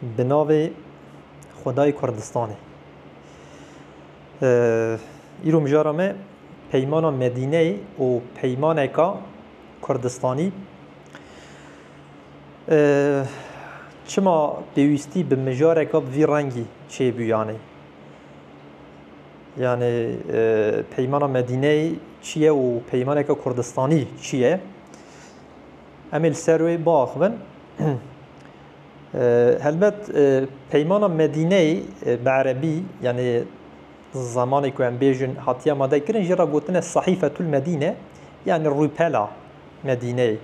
Bi navê Xwedayê Kurdistanê. Îro mijara me peymana Medîneyê û peymaneka Kurdistanî çima pêwîstî bi mijareke bi vî rengî çêbû yanî. Yanî peymana Medîneyê çi ye û peymaneka Kurdistanî çi ye? Em ê li ser wê biaxivin. Helbet peymana Medîneyê bi erebî yanî zemanê ku em bêjin hatiye amade kirin jî re gotin e Sahîfetul Medîne yanî rûpela Medîneyê.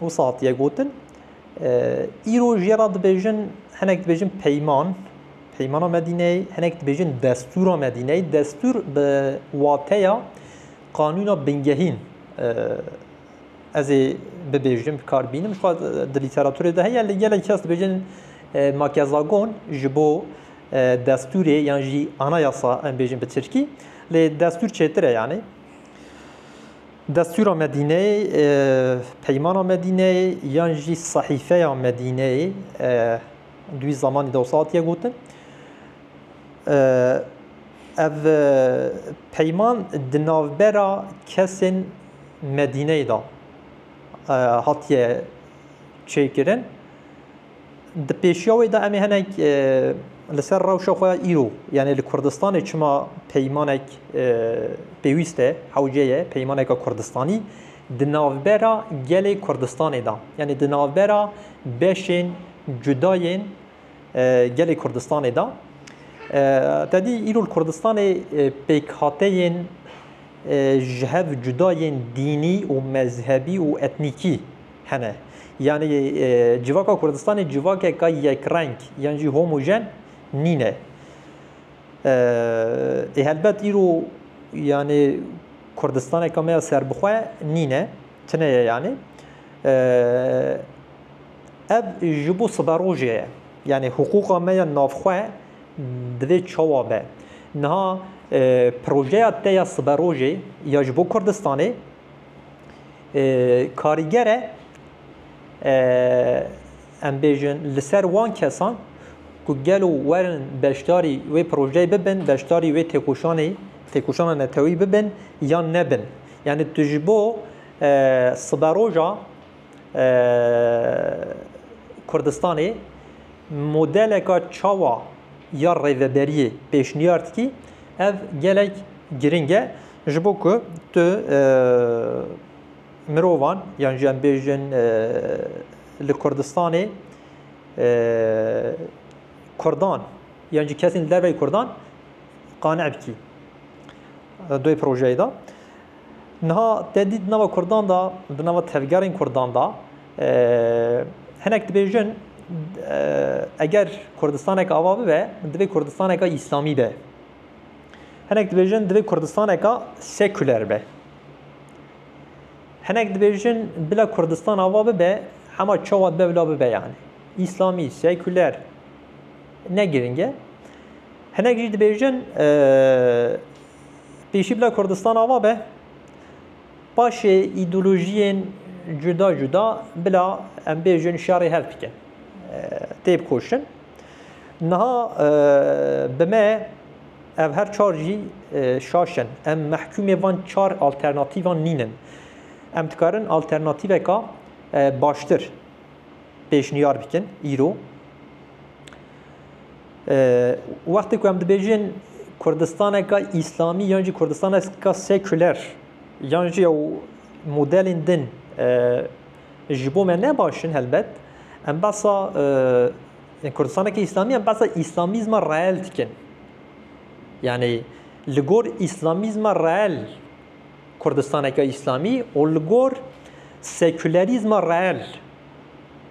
Wisa hatiye gotin. Îro jê re dibêjin hinek dibêjin peyman peymana Medîneyê hinek dibêjin destûra Medîneyê destûr bi wateya Qanûna bingehîn ez ê bibêjim, bi kar bînim. Jixwe di lîteraturê de heye lê gelek kes dibêjin makezagon ji bo destûrê yan jî anayasa em bêjin bi tirkî lê destûr çêtir e yanî. Destûra Medîneyê, Peymana Medîneyê yan jî Sehîfeya Medîneyê di wî zamanî de wisa hatiye gotin. Ev peyman di navbera kesên Medîneyê de hatiye çêkirin. Di pêşiya wê de em ê hinek li ser rewşa xwe ya îro yanê li Kurdistanê çima peymanek pêwîst e, hewce ye peymaneke Kurdistanî di navbera gelê Kurdistanê de yanê di navbera beşên cuda yên gelê Kurdistanê de. Te dî îro li Kurdistanê pêkhateyên ji hev cuda yên dînî û mezhebî û etnîkî hene. Yanî civaka Kurdistanê civakeka yekreng yan jî homojen nîne. Ê helbet îro yanî Kurdistaneke me ya serbixwe nîne, tuneye yanî. Ev ji bo siberojê ye. Yanî hiqûqa me ya navxwe divê çawa be. Niha projeya te ya siberojê ya ji bo Kurdistanê karîger e em bêjin li ser wan kesan ku gelo werin beşdarî wê projeyê bibin, beşdarî wê têkoşanê, têkoşana neteweyî bibin yan nebin. Yanî tu ji bo siberoja Kurdistanê modeleka çawa ya rêveberiyê pêşniyar dikî ev gelek girîng e ji bo ku tu mirovan yan jî em bêjin li Kurdistanê Kurdan yan jî kesên li derveyî Kurdan qane bikî. Duy projeyê de. Niha te dît di nava kurdan de, di nava tevgerên kurdan de hinek dibêjin eger Kurdistanek ava bibe divê Kurdistaneke îslamî be. Hinek dibêjin divê Kurdistaneke sekuler be. Hinek dibêjin bila Kurdistan ava bibe hema çawa dibe bila bibe yani. İslami, seküler ne giringe. Hinek jî dibêjin Pêşî bila Kurdistan ava be, paşê îdeolojiyên cuda cuda bila em bêjin şerê hev bikin. Têb koştin. Niha bi me ev her çar jî şaşin. Em mehkûmê van çar alternatîvan nînin. Em dikarin alternatîveka baştir pêşniyar bikin îro. Wextê ku em dibêjin Kurdistaneke Îslamî yan jî Kurdistaneke sekuler yan jî ew modelên din ji bo me ne baş in helbet em behsa Kurdistaneke Îslamî em behsa Îslamîzma reel dikin. Yanî li gor Îslamîzma reel Kurdistaneke Îslamî û li gor sekulerîzma reel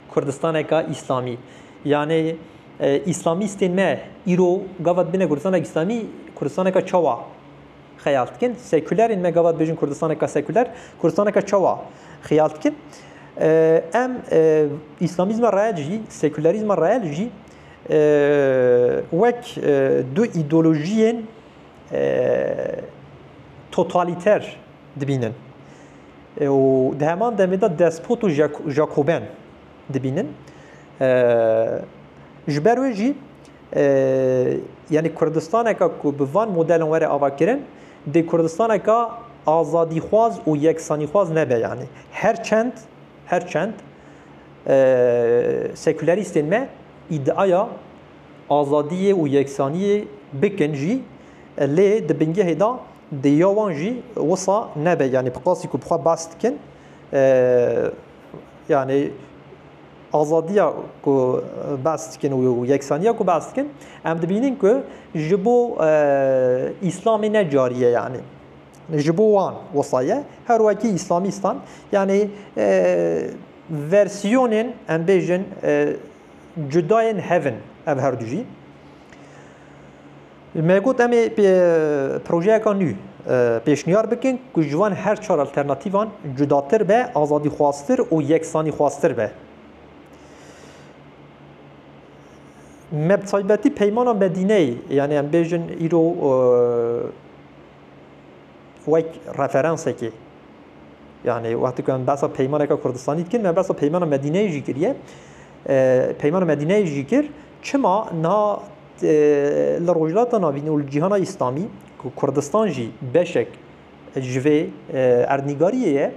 Kurdistaneka Îslamî. Yanê Îslamîstên me îro gava dibêne Kurdistaneke Îslamî, Kurdistaneka çawa xeyal dikin? Sekûlerên me gava dibêjin Kurdistaneka sekûler, Kurdistaneka çawa xeyal dikin? Em Îslamîzma reel jî, sekûlerîzma reel jî wek du îdeolojiyên totalîter dibînin. Û di heman demê de despot û jakoben dibînin. Ji ber wê jî yanî Kurdistaneke ku bi van modelan were avakirin dê Kurdistaneke azadîxwaz û yeksanîxwaz nebe yanî. Her çend her çend sekûlerîstên me îdiaya azadiyê û yeksaniyê bikin jî lê di bingehê de Di ya wan jî wisa nebe yanî bi qasî ku bi xwe behs dikin yanî azadiya ku behs dikin û yeksaniya ku behs dikin em dibînin ku ji bo îslamê ne carî ye yanî ji bo wan wisa ye her wekî îslamîstan yanî versiyonên em bêjin cudayên hev in ev herdû jî. Me got em ê projeyeka nû pêşniyar bikin ku ji van her çar alternatîvan cudatir be, azadîxwaztir û yeksanîxwaztir be. Me bi taybetî Peymana Medîneyê yanî em bêjin îro wek referansekê yanî wextê ku em behsa peymaneka Kurdistanî dikin me behsa Peymana Medîneyê jî kiriye. Peymana Medîneyê jî kir çima niha Li Rojhilata Navîn û li cîhana Îslamî ku Kurdistan jî beşek ji vê erdnîgariyê ye,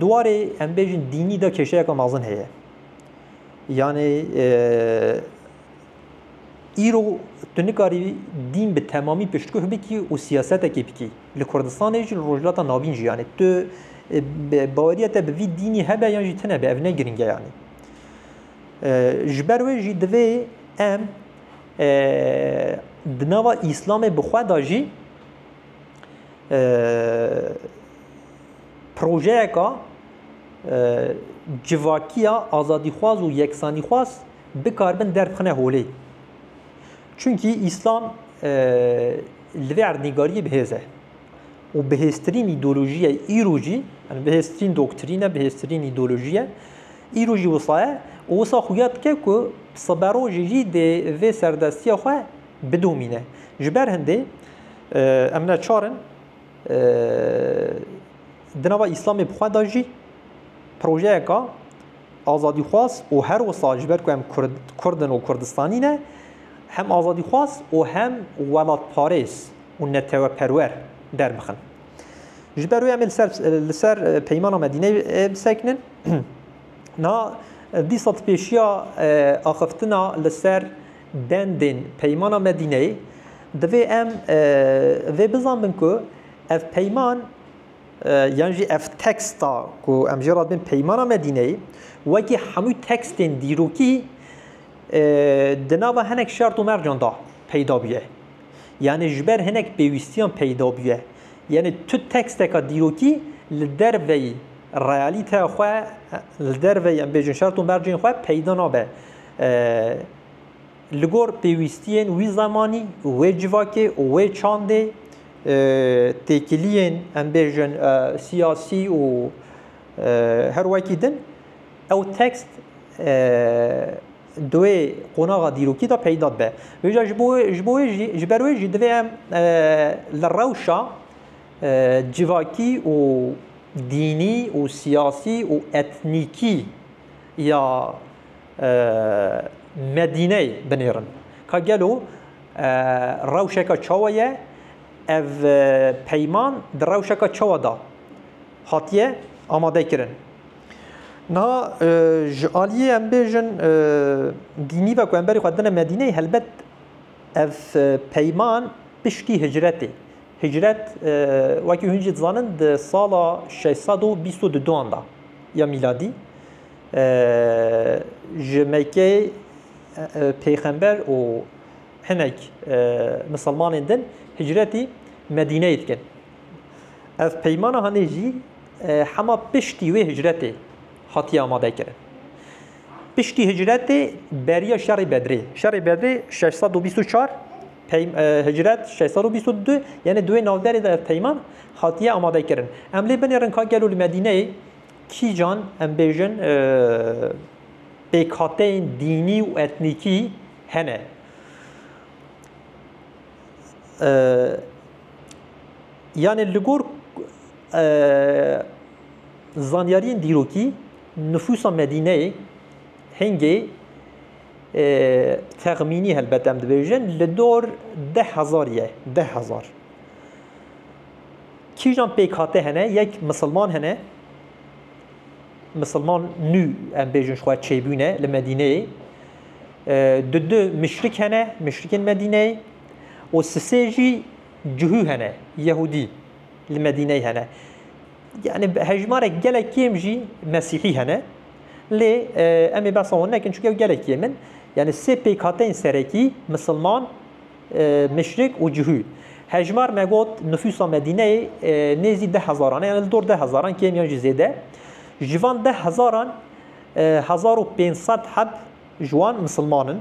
di warê em bêjin dînî de kêşeyeke mezin heye. Yanê îro tu nikarî dîn bi temamî piştgûh bikî û siyasetekê bikî. Li Kurdistanê jî li Rojhilata Navîn jî yanê tu baweriya te bi vî dînî hebe yan jî tunebe ev ne girîng e yanê. Ji ber wê jî divê em di nava Îslamê bi xwe de jî projeyeka civakiya azadîxwaz û yeksanîxwaz bikaribin derbixine holê. Çimkî Îslam li vê erdnîgariyê bi hêz e û bihêztirîn îdeolojî ye îro jî, bihêztirîn doktrîn e, bihêztirîn îdeolojî ye. Îro jî wisa ye û wisa xuya dike ku bi siberojê jî dê vê serdestiya xwe bidomîne. Ji ber hindê em neçar in di nava Îslamê bi xwe de jî projeyeka azadîxwaz û her wisa ji ber ku em Kurd in û Kurdistanî ne hem azadîxwaz û hem welatparêz û neteweperwer derbixin. Ji ber wê em li ser peymana Medîneyê bisekinin. Na dî sed pêşiya axiftina li ser bendên peymana Medîneyê divê em vê bizanin ku ev peyman yan jî ev teksta ku em jê re dibin peymana Medîneyê wekî hemû tekstên dîrokî di nava hinek şert û mercan da peyda bûye. Yanî ji ber hinek pêwîstiyan peyda bûye. Yanî tu teksteka dîrokî li derveyî realîteya xwe, li derveyî em bêjin şert û mercên xwe peyda nabe. Li gor pêwîstiyên wî zemanî, wê civakê û wê çandê têkiliyên em bêjin siyasî û her wekî din ew tekst Duê qonaxa dîrokî de peyda dibe. Hêja ji bo ji bo wê jî ji ber wê jî divê em li rewşa civakî û dînî û siyasî û etnîkî ya Medîneyê binêrin ka gelo rewşeke çawa ye, ev peyman di rewşeke çawa de hatiye amadekirin. Niha ji aliyê em bêjin dînî ve ku em berî xwe didine Medîneyê helbet ev peyman piştî hicretê. Hicret wekî hûn jî dizanin di sala şeş sed û bîst û duan da ya mîladî ji Mekkeyê pêxember û hinek misilmanên din hicretî Medîneyê dikin. Ev peymana hanê jî Hema piştî wê hicretê hatiye amadekirin. Piştî hicretê beriya şerê Bedrê. Şerê Bedrê şeş sed û bîst û çar hicret şeş sed û bîst û du yanê di wê navberê de ev peyman hatiye amadekirin. Em lê binêrin ka gelo li Medîneyê kîjan em bêjin pêkhateyên dînî û etnîkî hene. Yanê li gor zanyariyên dîrokî nifûsa Medîneyê hingê texmînî helbet em dibêjin li dor deh hezar ye. Deh hezar. Kîjan pêkhate hene yek misilman hene, misilman nû em bêjin ji xwe çêbûne li Medîneyê. Di du mişrik hene, mişrikên Medîneyê û sisê jî Cuhû hene, Yehûdî li Medîneyê hene. Yanî bi hejmarek gelek kêm jî Mesîhî hene. Lê em ê behsa wan nekin çunke ew gelek kêm in. Yanî sê pêkhateyên serekî, misilman, muşrik û cuhû. Hejmar me got nifûsa Medîneyê nêzî deh hezaran e, yanî li dor deh hezaran kêmiyan jî zêde. Ji van deh hezaran hezar û pênc sed heb ji wan misilman in.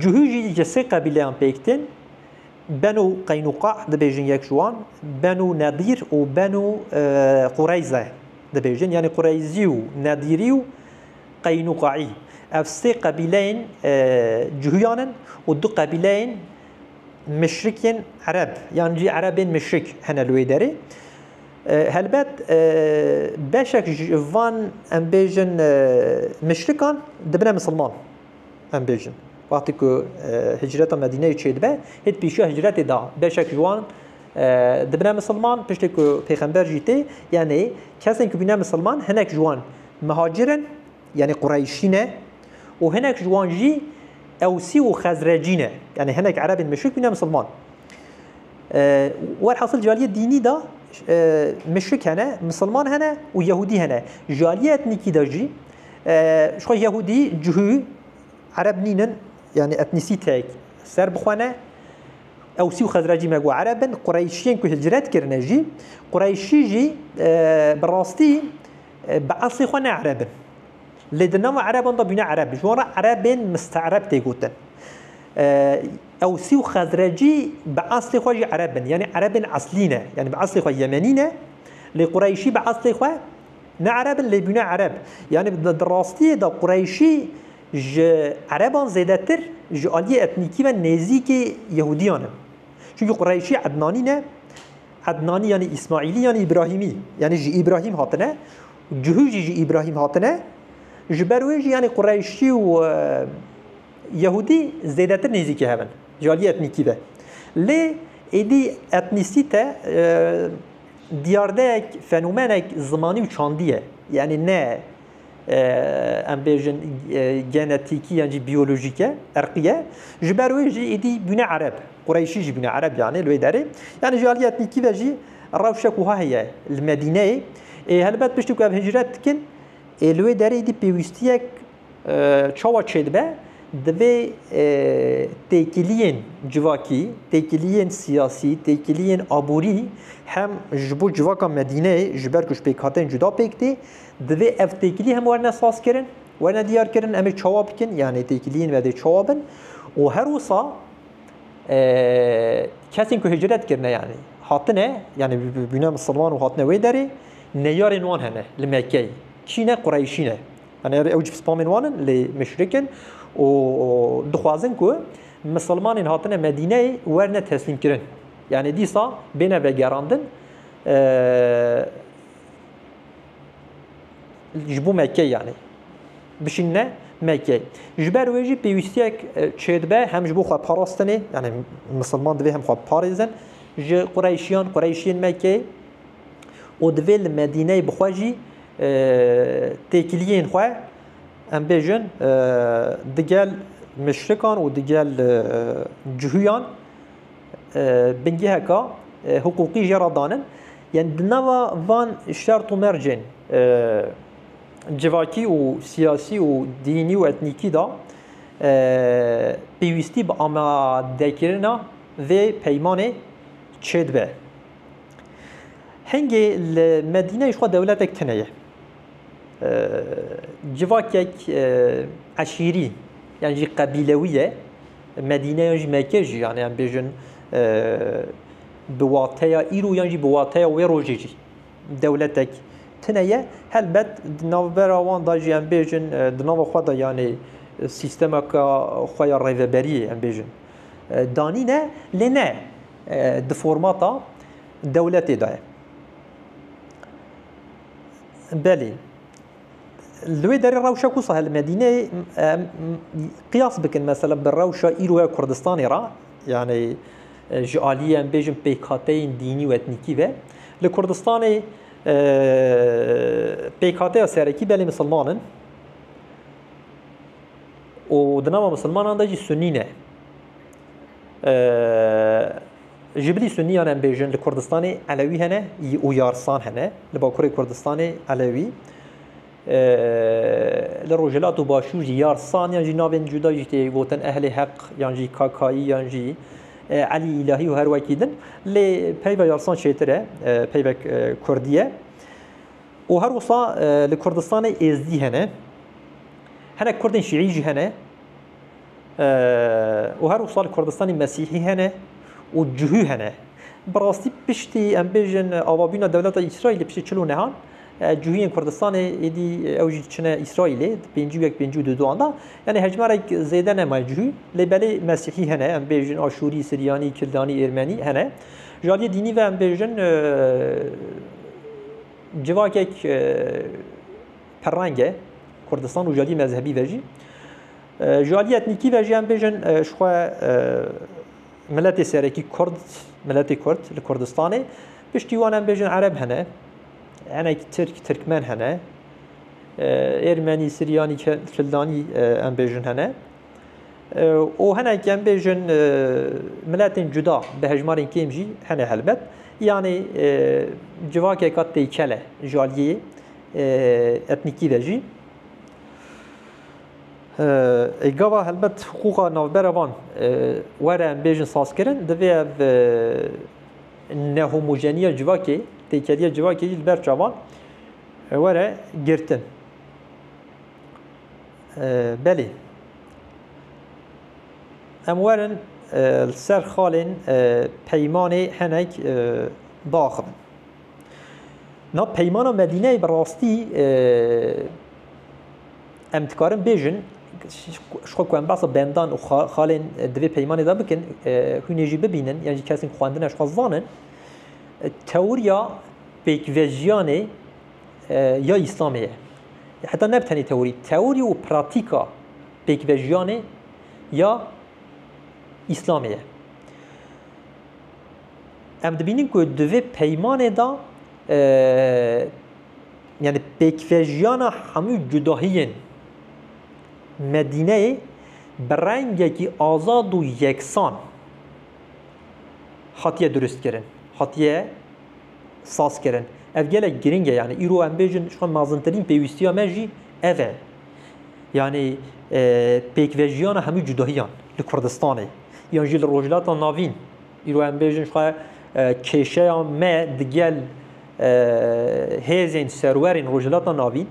Cuhî jî ji sê qebîleyan pêk tên, Benû Qeynûqa dibêjin yek ji wan, Benû Nedîr û Benû Qureyze dibêjin. Yanî Qureyzî û Nedîrî û Qeynûqaî ev sê qebîleyên cuhîyan in û du qebîleyên mişrikên ereb yan jî erebên mişrik hene li wê derê. Helbet beşek ji van em bêjin mişrikan dibine misilman. Em bêjin. Wextî ku hicreta Medîneyê çêdibe, hê di pêşiya hicretê de beşek ji wan dibine misilman, piştî ku pêxember jî tê, yanî kesên ku bîne misilman hinek ji wan mihacir in, yanî qureyşî ne û hinek ji wan jî ewsî û xezrecî ne, yanî hinek erebên muşrik bîne misilman. Welhasil cariyê dînî de muşrik hene, misilman hene û yehûdî hene. Cariyê etnîkî de jî Ji xwe Yehûdî, Cihû, Ereb nînin, yanî etnîsîteyek ser bixwene. Ewsî û Xezrecî me got Ereb in, Qureyşiyên ku hicret kirine jî, Qureyşî jî bi rastî bi eslê xwe ne Ereb in. Lê di nava Ereban de bûne Ereb. Ji wan re Erebên miste'reb tê gotin. Ewsî û Xezrecî bi eslê xwe jî Ereb in, yanî Erebên eslî ne, yanî bi eslê xwe Yemenî ne, lê Qureyşî bi eslê xwe, Ne Ereb in lê bûne Ereb. Yanî di rastiyê de Qureyşî ji Ereban zêdetir ji aliyê etnîkî ve nêzîkî Yehudiyan in. Çunkî Qureyşî Ednanî ne, Ednanî yanî Îsmaîlî yanî Îbrahîmî, yanî ji Îbrahîm hatine û cihû jî ji Îbrahîm hatine, ji ber wê jî yanî Qureyşî û Yehûdî zêdetir nêzîkî hev in ji aliyê etnîkî ve. Lê êdî etnîsîte Diyardek, fenomenek zimanî û çandî ye. Yanî ne em bêjin genetîkî yan jî biyolojîk e, irqî ye. Ji ber wê jî êdî bûne ereb. Qureyşî jî bûne ereb yanî li wê derê. Yanî ji aliyê etnîkî ve jî rewşek wiha heye li Medîneyê. Ê helbet piştî ku ev hicret dikin ê li wê derê êdî pêwîstiyek Çawa çêdibe? Divê têkiliyên civakî, têkiliyên siyasî, têkiliyên aborî hem ji bo civaka Medîneyê ji ber ku ji pêkhateyên cuda pêk tê, divê ev têkilî hem werne sazkirin, werne diyarkirin, em ê çawa bikin, yanê têkiliyên me dê çawa bin û her wisa kesên ku hicret kirine yanê hatine, yanê bûne misilman û hatine wê derê, neyarên wan hene li Mekkeyê, kî ne? Qureyşî ne. Anêr ew cî spamên wan in lê müşrik in û dixwazin ku misilmanên hatine Medîneyê werne teslîmkirin. Yanî dîsa bêne vegerandin ji bo Mekkeyê yanî bişînine Mekkeyê. Ji ber wê jî pêwîstiyek çêdibe hem ji bo xweparastinê yanî misilman divê hem xwe biparêzin ji Qureyşiyan, Qureyşiyên Mekkeyê û divê li Medîneyê bi xwe jî Têkiliyên xwe em bêjin digel muşrikan û digel cihuyan bingeheka hiqûqî jê re danin. Yan di nava van şert û mercên civakî û siyasî û dînî û etnîkî de pêwîstî bi amadekirina vê peymanê çêdibe. Hingê li Medîneyê jixwe dewletek tune ye. Civakek eşîrî yan jî qebîlewî ye. Medîne yan jî Mekke jî yan yan bêjin bi wateya îro yan jî bi wateya wê rojê jî dewletek tune ye. Helbet di navbera wan da jî yan bêjin di nava xwe da yanê sîstemeka xwe ya rêveberiyê yan bêjin danîne lê ne di formata dewletê de ye. Belê. Li wê derê rewşa ku sahel Medîneyê qiyas bikin mesela bi rewşa îro ya Kurdistanê re yanî ji aliyê em bêjin pêkhateyên dînî û etnîkî ve li Kurdistanê pêkhateya serekî belê misilman in û di nava misilmanan de jî sunî ne. Ji bilî sunniyan em bêjin li Kurdistanê elewî hene û yarsan hene, li bakurê Kurdistanê elewî, li rojhilat û başûr jî yarsan yan jî navên cuda jî tê gotin ehlê heq yan jî kakayî yan jî elî îlahî û her wekî din lê peyva yarsan çêtir e peyvek kurdî ye û her wisa li Kurdistanê êzdî hene. Hinek kurdên şîî jî hene. Û her wisa li Kurdistanê Mesîhî hene û cihû hene. Bi rastî piştî em bêjin avabûna dewleta Îsraîlê piştî çil û nehan cihûyên Kurdistanê êdî ew jî çine Îsraîlê di pêncî û yek pêncî û du duan de. Yanî hejmarek zêde nemaye cihû. Lê belê Mesîhî hene em bêjin Aşûrî, Siryanî, Kildanî, Êrmenî hene. Ji aliyê dînî ve em bêjin civakek Perrangê Kurdistan û ji aliyê mezhebî ve jî, ji aliyê etnîkî ve jî em bêjin ji xwe miletê serekî Kurd, miletê Kurd li Kurdistanê, piştî wan em bêjin Ereb hene, hinek Tirk, Tirkmen hene, Êrmenî, Siryanî, Kildanî em bêjin hene. û hinek em bêjin miletên cuda bi hejmarên kêm jî hene helbet. Yanê civakeka têkel e ji aliyê etnîkî de jî. Ê gava helbet hiqûqa navbera van were em bêjin sazkirin, divê ev nehomojenîya civakê, têkeliya civakê jî li ber çavan were girtin. Belê em werin li ser xalên peymanê hinek biaxivin. Na peymana Medîneyê bi rastî em dikarin bêjin ji xwe ku em behsa bendan û xalên di vê peymanê de bikin hûnê jî bibînin yan jî kesên xwendine ji xwe zanin tewriya pêkvejiyanê ya Îslamê ye. Heta ne bi tenê tewrî, tewrî û pratîka pêkvejiyanê ya Îslamê ye. Em dibînin ku di vê peymanê de yanî pêkvejiyana hemû cudahiyên Medîneyê bi rengekî azad û yeksan hatiye duristkirin, hatiye sazkirin. Ev gelek girîng e yanî îro em bêjin ji xwe mezintirîn pêwîstiya me jî ev e. Yanî pêkvejiyana hemû cudahiyan li Kurdistanê yan jî li Rojhilata Navîn Îro em bêjin xwe kêşeya me digel hêzên serwerên Rojhilata Navîn,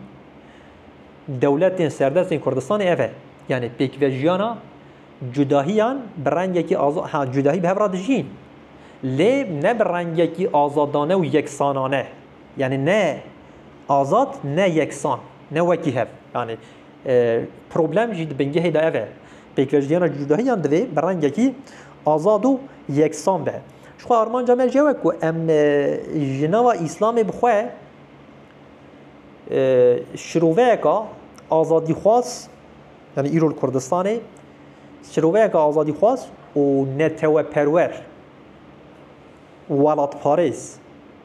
dewletên serdestên Kurdistanê ev e. Yanê pêkvejiyana cudahiyan bi rengekî ha cudahî bi hev re dijîn. Lê ne bi rengekî azadane û yeksanane. Yanê ne azad ne yeksan. Ne wekî hev. Yanê problem jî di bingehê de ev e. Pêkvejiyana cudahiyan divê bi rengekî Azad û yeksan be. Jixwe armanca me ji we ku em ji nava Îslamê bi xwe şiroveyeka azadîxwaz yanî îro li Kurdistanê şiroveyeka azadîxwaz û neteweperwer û welatparêz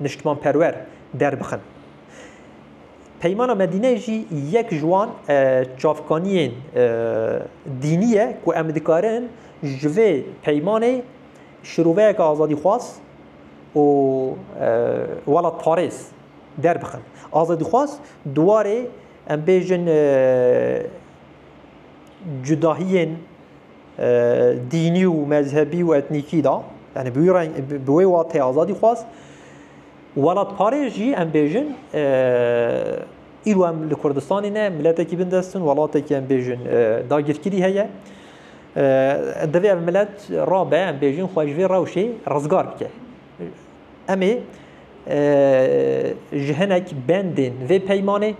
niştimanperwer derbixin. Peymana Medîneyê jî yek ji wan çavkaniyên dînî ye ku em dikarin ji vê peymanê şiroveyeke azadîxwaz û welatparêz derbixin. Azadîxwaz di warê em bêjin cudahiyên dînî û mezhebî û etnîkî de, yanî bi wê wateyê azadîxwaz, Welatparêz jî em bêjin îro em li Kurdistanê ne miletekî bindestin welatekî em bêjin dagîrkirî heye. Divê ev milet rabe em bêjin xwe ji vê rewşê rizgar bike. Em ê ji hinek bendên vê peymanê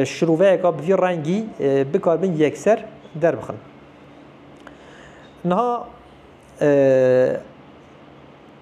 şiroveyeka bi vî rengî bikarbin yekser derbixin. Niha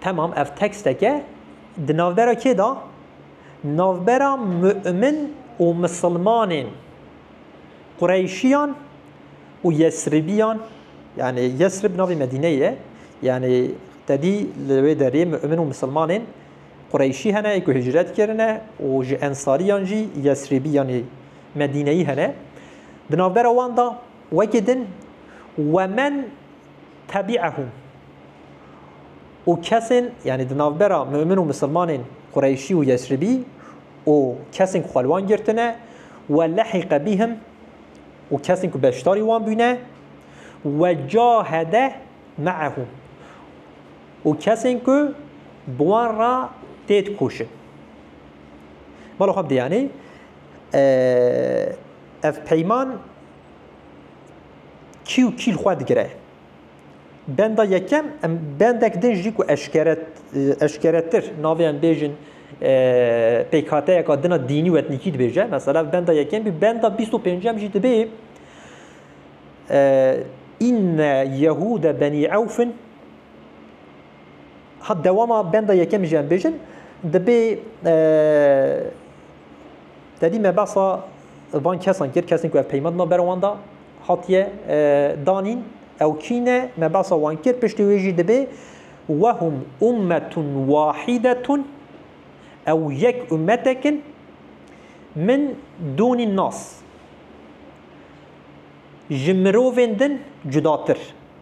Temam ev teksteke di navbera kê da? Navbera mu'min û misilmanên Qureyşiyan û Yesribiyan yanî Yesrib navê Medîneyê ye yanî tedî li wê derê mu'min û misilmanên Qureyşî hene ku hicret kirine û ji ensariyan jî Yesribî yanî Medîneyî hene. Di navbera wan da wekî din wemen Tebi'ehum. Û kesên, yanî di navbera mu'min û misilmanên Qureyşî û Yesribî û kesên ku xwe li wan girtine, we lehiqe bihim û kesên ku beşdarî wan bûne, we cahede me'ehum. Û kesên ku bi wan re tê dikoşin. Bala xwe bi dê yanî ev peyman Kî û kî li xwe digire? Benda yekem em bendek din jî ku eşkere eşkeretir navê em bêjin pêkhateyeka din a dînî û etnîkî dibêje. Mesela benda yekem bî benda bîst û pêncem jî dibê inne yehûde benî ewfin ha dewama benda yekem jî em bêjin dibê Tedî me behsa van kesan kir, kesên ku ev peyma dina ber wan de hatiye danîn. Ew kî ne? Me behsa wan kir, piştî wê jî dibê we hum ummetun wahidetun ew yek ummetek in min donîn nas ji mirovên din cudatir.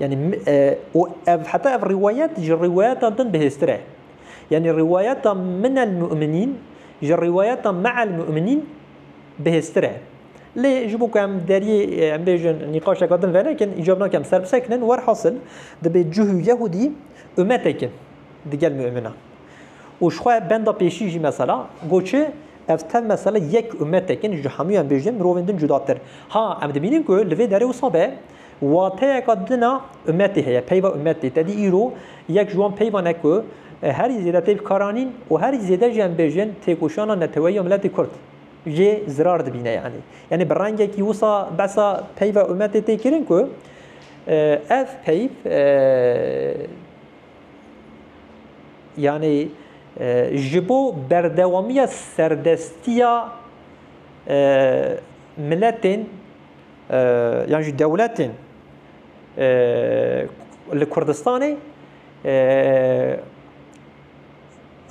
Yanî û ev heta ev rîwayet ji rîwayetan din bihêztir e. Yanî rîwayeta min el mu'minîn ji rîwayeta me'el mu'minîn bihêztir e. Lê ji bo ku em deriyê em bêjin nîqaşeke din venekin îcar nake em ser bisekinin werhasil dibê cih û yehûdî umetek in digel mu'minan. Û ji xwe benda pêşî jî mesela got çi ev tev mesela yek umetek in ji hemûyan bêjin mirovên din cudatir. Ha em dibînin ku li vê derê wisa be Wateyeka din a umetê heye, peyva umetê. Tedî îro yek ji wan peyvan e ku herî zêde tê bikaran in û herî zêde jî em bêjin têkoşana neteweyî ya miletê Kurd jê zirar dibîne yanî. Yanî bi rengekî wisa behsa peyva umetê tê kirin ku ev peyv yanî ji bo berdewamiya serdestiya miletên yan jî dewletên li Kurdistanê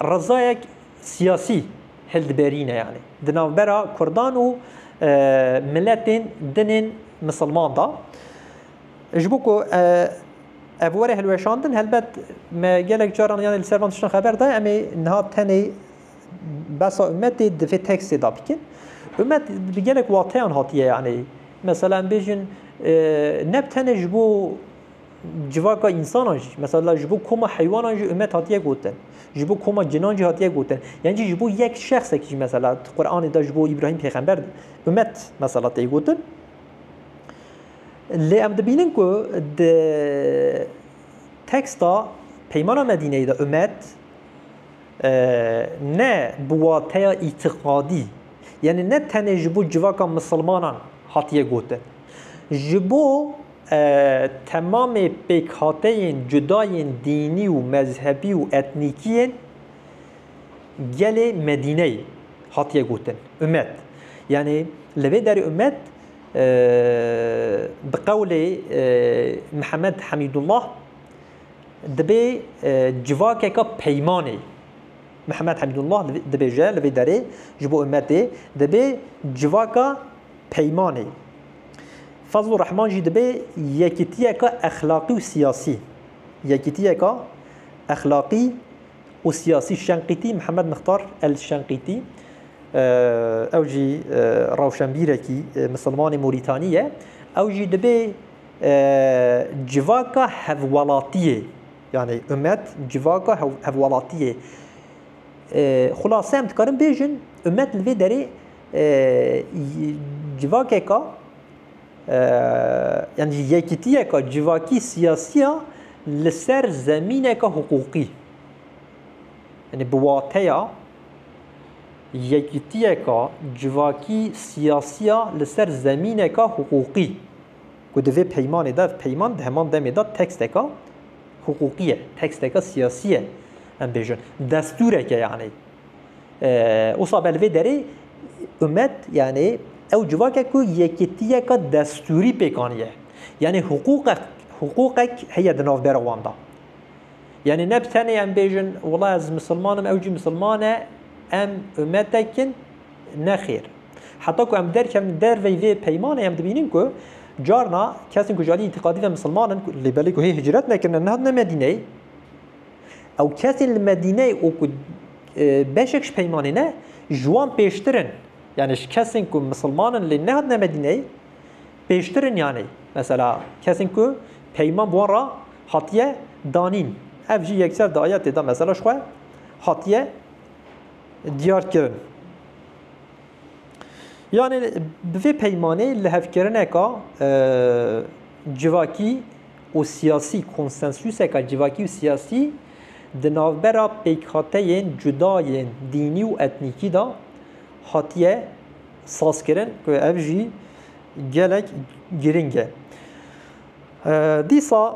rizayek siyasî hildiberîne yanî di navbera Kurdan û miletên dinên misilman da. Ji bo ku ev were hilweşandin helbet me gelek caran yanê li ser van tiştan xeber daye em ê niha tenê Besa umet ê divê tekstê de bikin. Umet bi gelek wateyan hatiye yanî. Mesela em bêjin ne bi tenê ji bo civaka însanan jî, mesela ji bo koma heywanan jî umet hatiye gotin. Ji bo koma cinan jî hatiye gotin. Yan jî ji bo yek şexsekî jî mesela di Quranê de ji bo Îbrahîm pêxember umet mesela tê gotin. Lê em dibînin ku di teksta Peymana Medîneyê de umet Ne bi wateya îtîqadî, yanî ne tenê ji bo civaka misilmanan hatiye gotin. Ji bo temamê pêkhateyên cudayên dînî û mezhebî û etnîkî yên gelê Medîneyê hatiye gotin ummet. Yanî li vê derê ummet bi qewlê Mihemed Hemîdullah, Dibê civakeke peymanê. Mihemed Hemdûllah dibêje li vê derê ji bo ummetê dibê civaka peymanê. Fazlur Rehman jî dibê yekîtiyeke exlaqî û siyasî. Yekîtiyeke exlaqî û siyasî Şenqîtî Mihemed Mixtar El Şenqîtî ew jî rewşenbîrekî misilmanê Morîtanî ye. Ew jî dibê Civaka hevwelatiyê yanî umet civaka hevwelatiyê. Xulase em dikarin bêjin umet li vê derê civakeka yanî yekîtiyeka civakî siyasî ya li ser zemîneke hiqûqî. Yanî bi wateya yekîtiyeka civakî siyasî ya li ser zemîneke hiqûqî. ku di vê peymanê de, ev peyman di heman demê de teksteke hiqûqî ye, teksteke siyasî ye, em bêjin destûreke yanî. Wisa be li vê derê umet yanî ew civakek ku yekîtiyeke destûrî pêk aniye. Yanî hiqûqek hiqûqek heye di navbera wan de. Yanî ne bi tenê em bêjin wila ez misilmanim ew jî misilman e, em umetekin, Nexêr. Heta ku em derkevin li derveyî vê peymanê em dibînin ku carna kesên ku ji aliyê îtîqadî ve misilman in lê belê ku hê hicret nekirine nehatine Medîneyê ew kesên li Medîneyê û ku beşek ji peymanê ne ji wan pêştir in yanî ji kesên ku misilman in lê nehatine Medîneyê pêştir in yanî mesela kesên ku peyman bi wan re hatiye danîn ev jî yekser di ayetê de mesela jixwe hatiye diyar kirin. Yanê bi vê peymanê lihevkirineka civakî û siyasî konsensûseka civakî û siyasî di navbera pêkhateyên cuda yên dînî û etnîkî de hatiye sazkirin ku ev jî gelek girîng e. Dîsa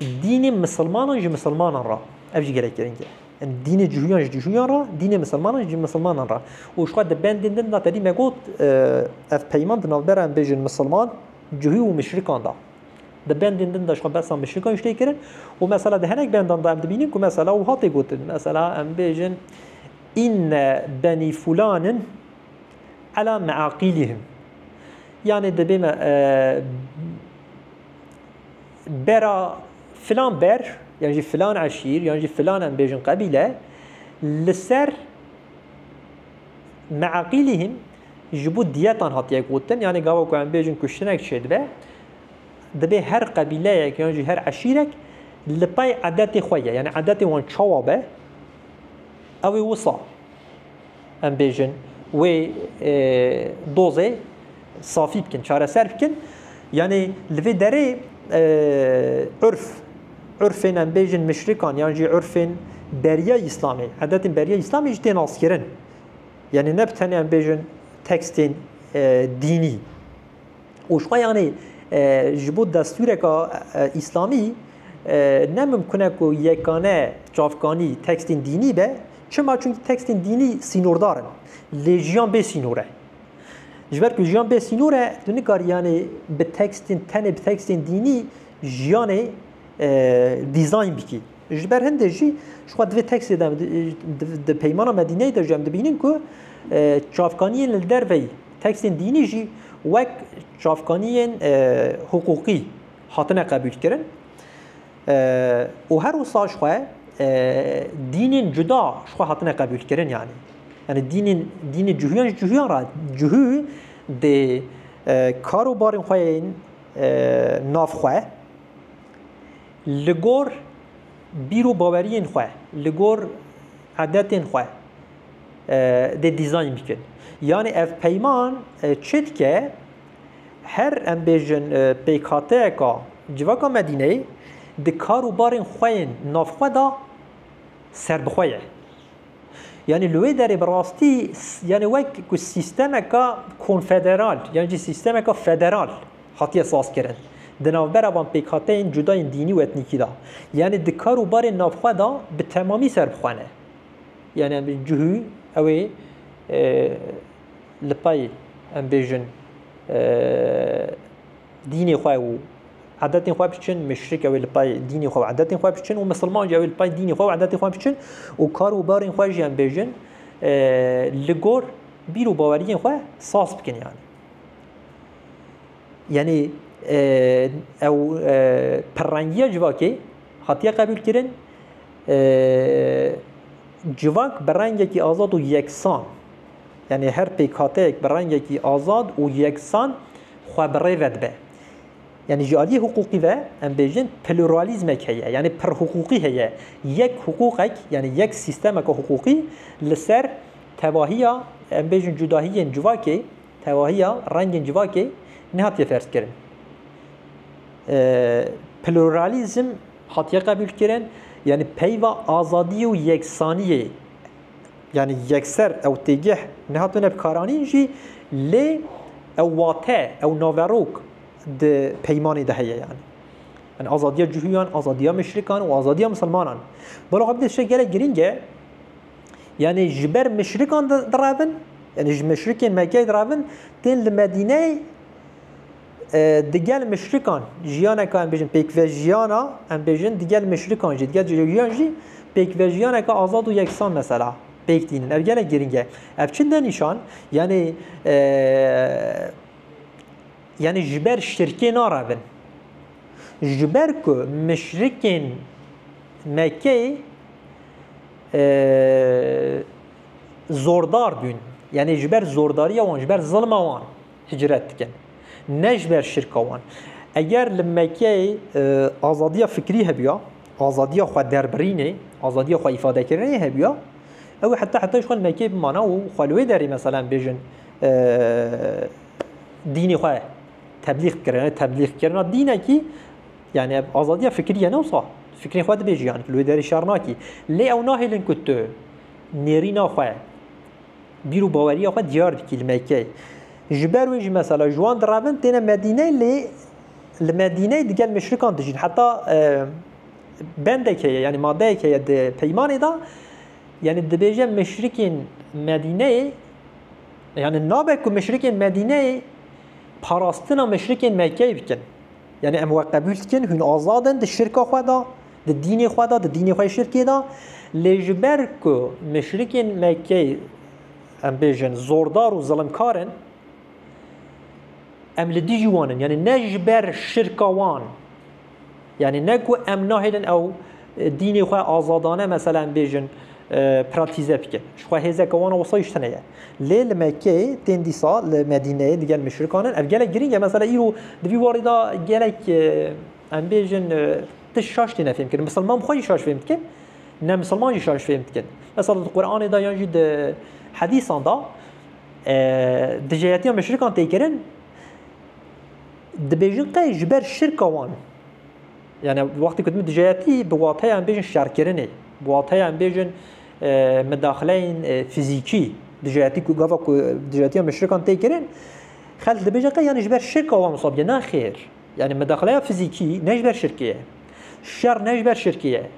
Dînê misilmanan ji misilmanan re ev jî gelek giring e. Yani dînê cihûyan ji cihûyan re, dînê misilmanan ji misilmanan re. Û xwe di bendên din de tedî me got ev peyman di navbera em bêjin misilman, cihû û mişrikan de. Di bendên din de xwe behsa mişrikan jî tê kirin û mesela di hinek bendan de em dibînin ku mesela wiha tê gotin. Mesela em bêjin inne benî fulanin ala meaqîlihim. Yani dibê me bera filan ber yan jî filan eşîr yan jî filan em bêjin qebîle li ser meaqîlîhîm ji bo diyetan hatiye gotin yanê gava ku em bêjin kuştinek çêdibe dibê her qebîleyek yan jî her eşîrek li pey edetê xwe ye yanê edetê wan çawa be ew ê wisa em bêjin wê dozê safî bikin, çareser bikin. Yanê li vê derê urf, urfên em bêjin mişrikan yan jî urfên beriya İslamê, edetên beriya İslamê jî tê naskirin. Yanê ne bi tenê em bêjin tekstên dînî. û jixwe yanî ji bo destûreka îslamî ne mimkun e ku yekane çavkanî tekstên dînî be çima çunki tekstên dînî sînordar in lê jiyan bê sînor e ji ber ku jiyan bê sînor e tu nikarî yanî bi tekstên tenê bi tekstên dînî jiyanê dîzayn bikî Ji ber hindê jî ji xwe divê teksê de di peymana Medîneyê de jî em dibînin ku çavkaniyên li derveyî teksên dînî jî wek çavkaniyên hiqûqî hatine qebûlkirin û her wisa ji xwe dînên cuda ji xwe hatine qebûlkirin yanî yanî dînên dînê cihûyan ji cihûyan re cihû dê kar û barên xwe yên nav xwe Li gor bîr û baweriyên xwe, li gor edetên xwe dê dîzayn bikin. Yanî ev peyman çi dike? Her em bêjin pêkhateyeka civaka Medîneyê di kar û barên xwe yên navxwe de serbixwe ye. Yanî li wê derê bi rastî yanî wek ku sîstemeka konfederal yan jî sîstemeka federal hatiye sazkirin di navbera van pêkhateyên cuda yên dînî û etnîkî de. Yanî di kar û barên navxwe de bi temamî serbixwe ne. Yanî em bêjin cihû ew ê li pey em bêjin dînê xwe û عادتên xwe biçin müşrik ew ê li pay dînê xwe û adetên xwe biçin û misilman jî ew ê li pay dînê xwe û adetên xwe biçin û kar û barên xwe jî em bêjin li gor bîr û baweriyên xwe saz bikin yanî yanî ew pirrengiya civakê hatiye qebûlkirin civak bi rengekî azad û yeksan yanî her pêkhate bi rengekî azad û yeksan xwe bi rê ve dibe. Yanî ji aliyê hiqûqî ve em bêjin pluralîzmek heye, yanî pirhiqûqî heye. Yek hiqûqek yanî yek sîstemeke hiqûqî li ser tevahiya em bêjin cudahiyên civakê, tevahiya rengên civakê nehatiye ferzkirin. Pluralîzm hatiye qebûlkirin, yanî peyva azadî û yeksaniyê. Yanî yekser ew têgeh nehatine bikaranîn jî lê ew wate, ew naverok di peymanê de heye yanî. Yani azadiya cihûyan, azadiya mişrikan û azadiya misilmanan. Balo ev dişe gelek girîng e. Yanî ji ber mişrikan direvin, yanî ji mişrikên Mekkeyê direvin, tên li Medîneyê Digel mişrikan jiyaneka em bêjin pêkvejiyana em bêjin digel mişrikan jî digel cihêjiyan jî pêkvejiyaneke azad û yeksan mesela pêk dînin. Ev gelek giring e. Ev çi de nîşan yanî yanî ji ber şirkê narevin. Ji ber ku mişrikên Mekkeyê zordar bûn. Yanî ji ber zordariya wan ji ber zilma wan Hicret dikin. Ne ji ber şirka wan. Eger li Mekkeyê azadiya fikrî hebûya, azadiya xwe derbirînê, azadiya xwe îfadekirinê hebûya, ew ê heta heta jî xwe li Mekkeyê bimana û xwe li wê derê meselan bêjin dînê xwe teblîx bikirin. Ev teblîxkirina dînekî yanî ev azadiya fikrî ye ne wisa. Fikrên xwe dibêjî yanî tu li wê derê şer nakî. Lê ew nahêlin ku tu nêrîna xwe Bîr û baweriya xwe diyar dikî li Mekkeyê. Ji ber wê jî mesela ji wan direvin têne Medîneyê lê li Medîneyê digel muşrikan dijîn. Heta e, bendek heye yanî madeyek heye di peymanê de yanî dibêje muşrikên Medîneyê yanî nabe ku muşrikên Medîneyê parastina muşrikên Mekkeyê bikin. Yani em we qebul dikin, hûn azad in di şirka xwe de. Di dînê xwe de, di dînê xwe yê şirkê de, lê ji ber ku müşrikên Mekkeyê em bêjin zordar û zilimkar in, em li dijî wan in. Yanî ne ji ber şirka wan, yanî ne ku em nahêlin ew dînê xwe azadane mesela em bêjin pratîze bikin. Ji xwe hêzeke wan a wisa îş tune ye. Lê li Mekkeyê tên dîsa li Medîneyê digel müşrikan in. Ev gelek girîng e. Mesela îro di vî warî de gelek Em bêjin tu şaş têne fêm kirin. Misilman xwe jî şaş fêm dikin, ne misilman jî şaş fêm dikin. Mesela di Qur'anê da yan jî di hedîsan da dijeyetiya meşrikan tê kirin dibêjin qey ji ber şirka wan yani wextê ku dimê dijeyetî bi wateya em bêjin şerkirinê bi wateya em bêjin medaxileyên fîzîkî dijeyetî ku gava ku dijeyetiya meşrikan tê kirin xelk dibêjin qey yani ji ber şirka wan wisa bike ne xêr Yanî medaxleya fizîkî ne ji ber şirkê ye. Şer ne ji ber şirkê ye.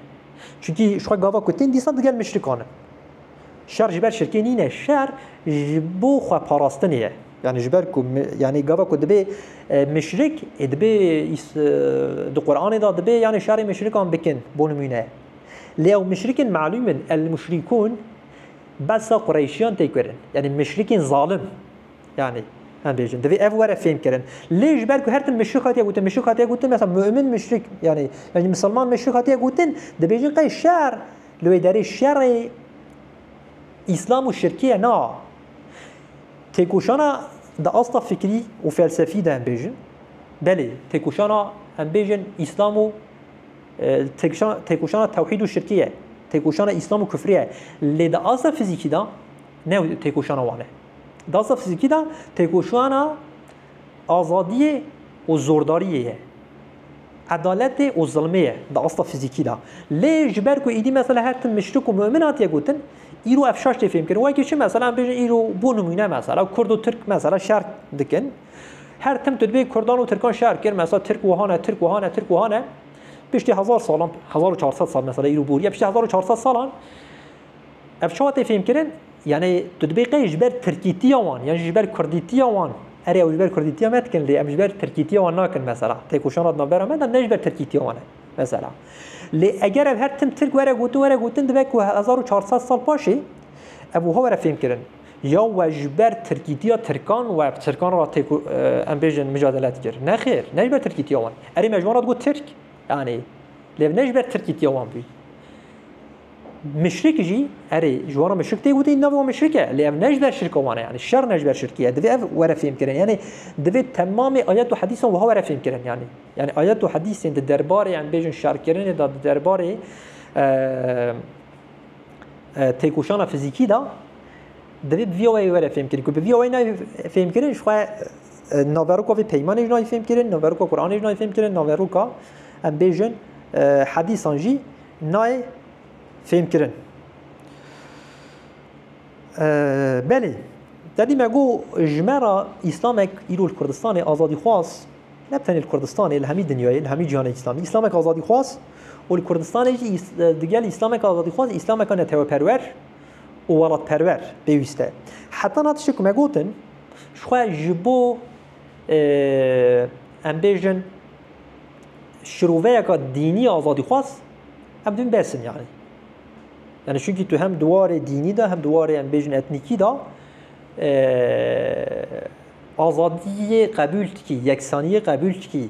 Çunkî ji xwe gava ku tên dîsa digel muşrikan in. Şer ji ber şirkê nîne, şer ji bo xwe parastinê ye. Yanî ji ber ku yanî gava ku dibê muşrik ê dibê di Quranê de dibê yanî şerê muşrikan bikin bo nimûne. Lê ew muşrikên melûm in, El-muşrîkûn behsa Qureyşiyan tê kirin. Yanî muşrikên zalim. Yanî em bêjin divê ev were fêm kirin. Lê ji ber ku her tim müşrik hatiye gotin, müşrik hatiye gotin, mesela mümin müşrik yanî yani misilman müşrik hatiye gotin, dibêjin qey şer li wê derê şerê İslam û şirkiye na. Têkoşana di asta fikrî û felsefî de em bêjin. Belê, têkoşana em bêjin İslam û têkoşana tewhîd û şirkiye. Têkoşana İslam û kufriye. Lê di asta fizîkî de ne têkoşana wan e. Dastafizîkî de têkoşana azadiyê û zordariyê ye. Edaletê û zilmê ye di asta fizîkî de. Lê ji ber ku êdî mesela her tim mişrik û mu'min hatiye gotin, îro ev şaş tê fêmkirin. Wekî çi mesela em bêjin îro bû nimûne mesela kurd û tirk mesela şer dikin. Her tim tu dibê kurdan û tirkan şer kir mesela tirk wiha ne, tirk wiha ne, tirk wiha ne. Piştî hezar salan, hezar û çar sed sal mesela îro bûriye, piştî hezar û çar sed salan Ev çawa tê fêmkirin? Yanî tu dibê qey ji ber tirkîtiya wan yan jî ji ber kurdîtiya wan erê ew ji ber kurdîtiya me dikin lê em ji ber tirkîtiya wan nakin mesela têkoşana di navbera me de ne ji ber tirkîtiya wan e mesela. Lê eger ev her tim tirk were gotin were gotin dibe ku hezar û çar sed sal paşê ev wiha were fêmkirin ya we ji ber tirkîtiya tirkan we bi tirkan re têko em bêjin micadele dikir. Nexêr ne ji ber tirkîtiya wan. Erê me ji wan re digot tirk yanî lê ne ji ber tirkîtiya wan bû. Müşrik jî erê ji wan re müşrik tê gotin navê wan müşrik e lê ev ne ji ber şirka wan e yanî şer ne ji ber şirkî ye divê ev were fêmkirin yanî divê temamê ayet û hedîsan wiha were fêmkirin yanî yanî ayet û hedîsên di derbarê em bêjin şerkirinê de di derbarê têkoşana fizîkî de divê bi vîya weyê were fêmkirin ku bi vîya weyê nayê fêmkirin ji xwe naveroka vê peymanê jî nayê fêmkirin naveroka Qur'anê jî nayê fêmkirin naveroka em bêjin hedîsan jî Nayê fêmkirin. Belê, te dî me got ji me re Îslamek îro li Kurdistanê azadîxwaz ne bi tenê li Kurdistanê li hemî dinyayê li hemî cîhanê Îslamî Îslamek azadîxwaz û li Kurdistanê jî digel Îslamek azadîxwaz Îslameka neteweperwer û welatperwer pêwîst e. Heta na tiştê ku me gotin ji xwe ji bo em bêjin şiroveyeka dînî azadîxwaz em dibin besin yani. Yani çünkü tu hem duwarê dînî de hem duwarê em bêjin etnîkî de azadiyê qebûl dikî, yeksaniyê qebûl dikî.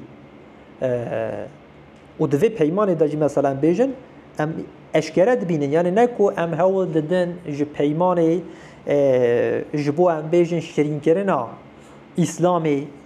û di vê peymanê de jî mesela em bêjin em eşkere dibînin yani ne ku em hewl didin ji peymanê ji bo em bêjin şirînkirina îslamê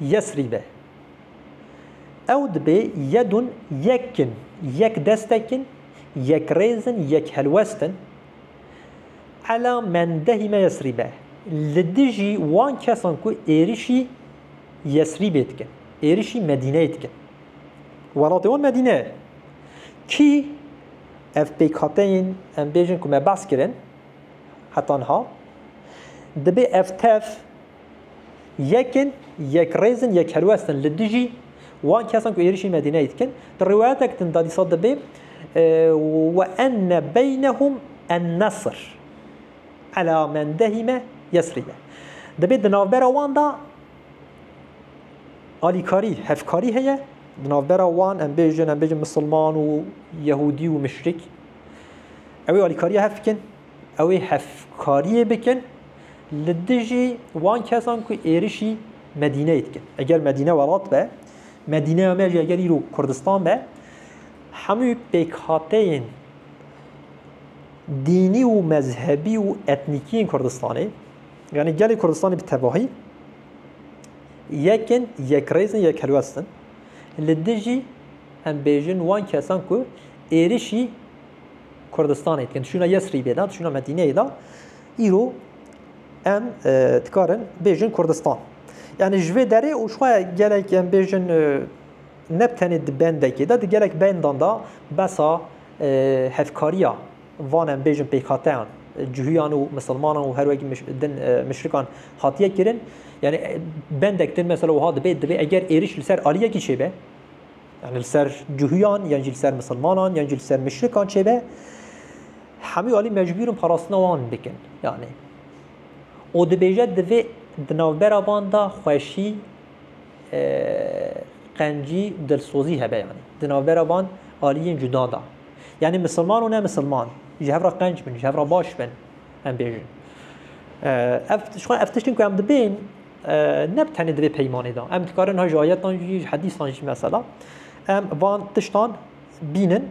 Yesrîbe. Ew dibê yedun yek in, yek destek in, yek rêz in, yek helwest in. Ela mendehî me Yesrîbe. Li dijî wan kesan ku êrişî Yesrîbê dikin, êrişî Medîneyê dikin. Welatê wan Medîne ye. Kî ev pêkhateyên em bêjin ku me behs kirin heta niha, dibê ev tev, Yekin, Yekrêz in, Yekhelwest in li dijî wan kesan ku êrişî Medîneyê dikin. Di rîwayeteke din de dîsa dibê Ve enne beynehum ennesr ela men dehîme Yesrîbe. Dibê di navbera wan de alîkarî, hevkarî heye, di navbera wan em bêjin, em bêjin misilman û yehûdî û muşrik. Ew ê alîkariya hev bikin. Ew ê hevkariyê bikin li dijî wan kesan ku êrişî Medîneyê dikin. Eger Medîne welat be, Medîneya me jî eger îro Kurdistan be, hemû pêkhateyên dînî û mezhebî û etnîkî yên Kurdistanê, yanî gelê Kurdistanê bi tevahî yek in, yekrêz in, yekhelwest in li dijî em bêjin wan kesan ku êrişî Kurdistanê tên çûna Yesrîbê de, çûna Medîneyê de, îro em dikarin bêjin Kurdistan. Yani ji vê derê û şixwe gelek em bêjin ne tenê di bendekê de, di gelek bendan de besa hevkariya van em bêjin pêkhateyan cihûyan û misilmanan û her wekî din mişrikan hatiye kirin. Yani bendek din mesela wiha dibê, dibê eger êriş li ser aliyekî çêbe, Yanî li ser cuhuyan yan jî li ser misilmanan yan jî li ser muşrikan çêbe hemû alî mecbûr in parastina wan bikin yanî û dibêje divê di navbera van da xweşî qencî dilsozî hebe yanî di navbera van aliyên cuda da yanî misilman û ne misilman ji hev re qenc bin ji hev re baş bin em bêjin ev tişt xwe ev tiştin ku em dibên ne bi tenê di vê peymanê de. Em dikarin ha ji ayetan jî ji hedîsan jî mesela em van tiştan bînin.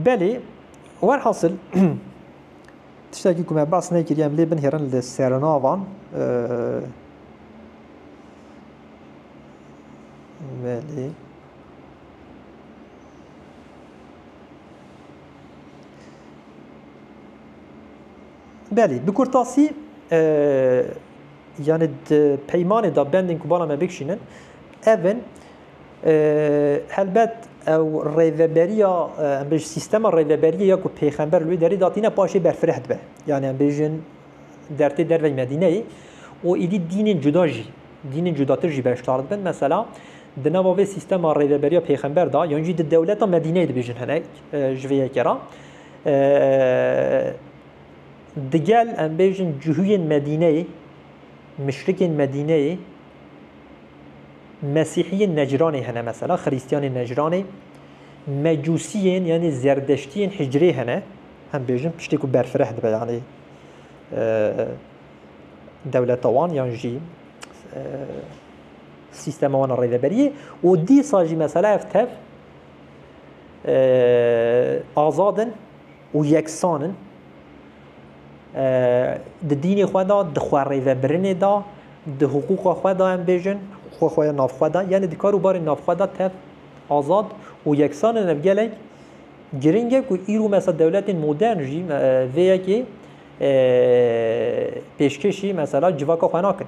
Belê werhasil tiştekî ku me bas nekiriye em lê binhêrin li serinavan belê Belê bi kurtasî Yanî di peymanê de bendên ku bala me bikişînin ev in. Helbet ew rêveberiya em bêjin sîstema rêveberiyê ya ku pêxember li wê derê datîne paşê berfireh dibe. Yanî em bêjin dertê derveyî Medîneyê û êdî dînên cuda jî dînên cudatir jî beşdar dibin. Mesela di nava vê sîstema rêveberiya pêxember da yan jî di dewleta Medîneyê dibêjin hinek ji vê yekê re Digel em bêjin cihuyên Medîneyê, muşrikên Medîneyê, Mesîhiyên Necranê hene mesela, Xirîstiyanên Necranê, Mecûsiyên yanî Zerdeştiyên Hicrê hene, em bêjin tiştê ku berfireh dibe yanî dewleta wan yan jî sîstema wan a rêveberiyê û dîsa jî mesela ev tev azad in û yeksan in, di dînê xwe de, di xwerêvebirinê de, di hiqûqa xwe de em bêjin, hiqûqa xwe ya navxwe de, yanî di kar û barên navxwe de tev, azad û yeksan in. Ev gelek giring e ku îro mesela dewletên modern jî vê yekê pêşkêşî mesela civaka xwe nakin.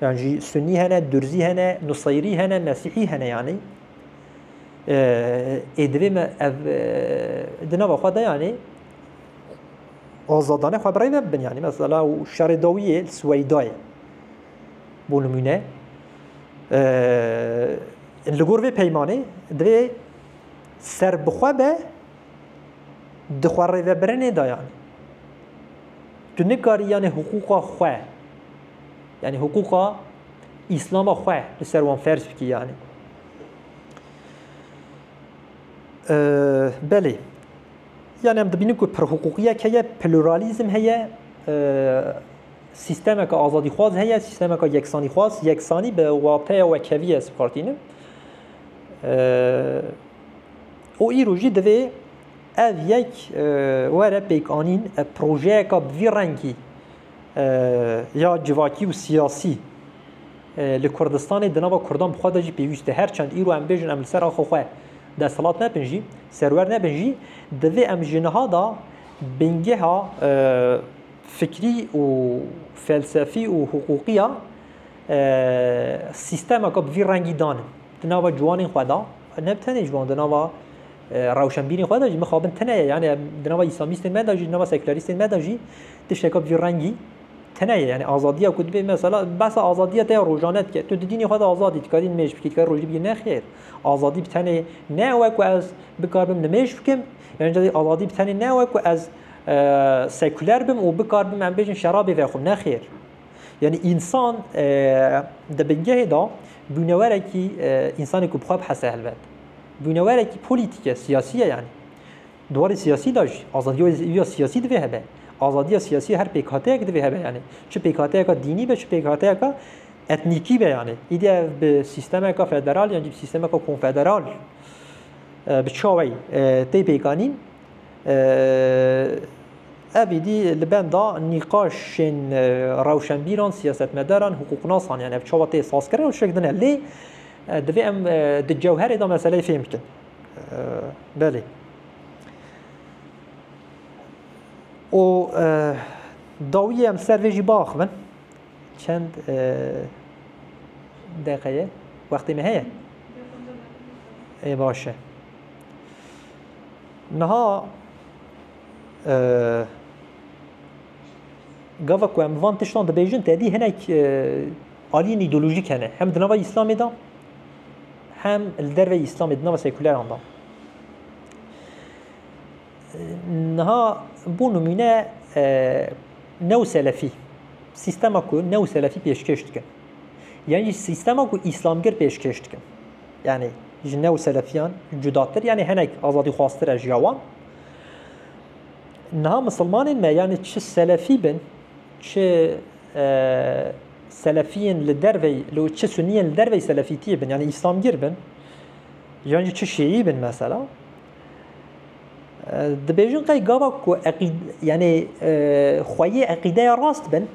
Yan jî Sunnî hene, Durzî hene, Nuseyrî hene, Mesîhî hene yanî. Ê divê me ev di nava xwe de yanî azadane xwe birêve bibin yanî mesela û şerê dawiyê Swêydayê bû nimûne li gor vê peymanê divê ser bixwe be di xwe rêvebirinê de yanî. Tu nikarî yanî hiqûqa xwe Yani hukuka İslam'a xwe li ser wan ferz bikî yani. Belê. Yani em dibînin ku perhuqûqiyek heye, pluralizm heye, sistemeke azadîxwaz heye, sistemeke yeksanîxwaz, yeksanî bi wateya wekeviyê ez bikartînim. û îro jî divê ev yek were pêkanîn, ev projeyeka bi vî rengî ya civakî û siyasî li Kurdistanê di nava Kurdan bi xwe de jî pêwîst e. Her çend îro em bêjin em li ser axa xwe desthilat nebin jî, serwer nebin jî, divê em ji niha de bingeha fikrî û felsefî û hiqûqî ya sîstemeke bi vî rengî danin di nava ciwanên xwe de, ne tenê ciwan di nava rewşenbîrên xwe de jî mixabin tune ye. Yanî di nava îslamîstên me de jî, di nava sekûlerîstên me de jî Tişteke bicû rengî tune ye. Yanî azadiya ku dibê mesela behsa azadiya te ya rojane dike. Tu di dînê xwe de azad î, dikarî nimêj bikî, dikarî rojî bikî. Nexêr. Azadî bi tenê ne ew e ku ez bikaribim nimêj bikim, yan jî azadî bi tenê ne ew e ku ez sekuler bim û bikaribim em bêjin şerabê vexwim. Nexêr. Yanî însan di bingehê de bûnewerekî însanê ku bi xwe bihese helbet. Bûnewerekî polîtîk e, siyasî ye yanî. Di warê siyasî de jî azadiya siyasî divê hebe. Azadiya siyasî ya her pêkhateyek divê hebe yanî. Çi pêkhateyeka dînî be, çi pêkhateyeka etnîkî be yanî. Îdî ev bi sîstemeke federal yan jî bi sîstemeke konfederal bi çawê tê pêkanîn ev îdî li benda nîqaşên rewşenbîran, siyasetmedaran, hiqûqnasan yan ev çawa tê sazkirin û şikdine. Lê divê em di cewherê de meseleyê fêm bikin. Belê. û dawiyê em ser vê jî biaxivin çend deqeye wextê me heye ê baş e niha gava ku em van tiştan dibêjin tedî hinek aliyên îdeolojîk hene hem di nava îslamê de hem li derveyî Îslamê di nava sekûleran de. Niha bû nimûne e, new selefî sîstema ku new selefî pêşkêş dikin yan jî sîstema ku îslamgir pêşkêş dikin yanî ji new selefiyan cudatir yanî hinek azadî xwastir e jiya wan niha misilmanên me yanî çi selefî bin çi e, Selefiyên li dervey li çi suniyên li dervey selefîtiyê bin yanî îslamgîr bin yan jî çi şîî bin mesela dibêjin qey gava ku eqîd yanî xweyê eqîdeya rast bin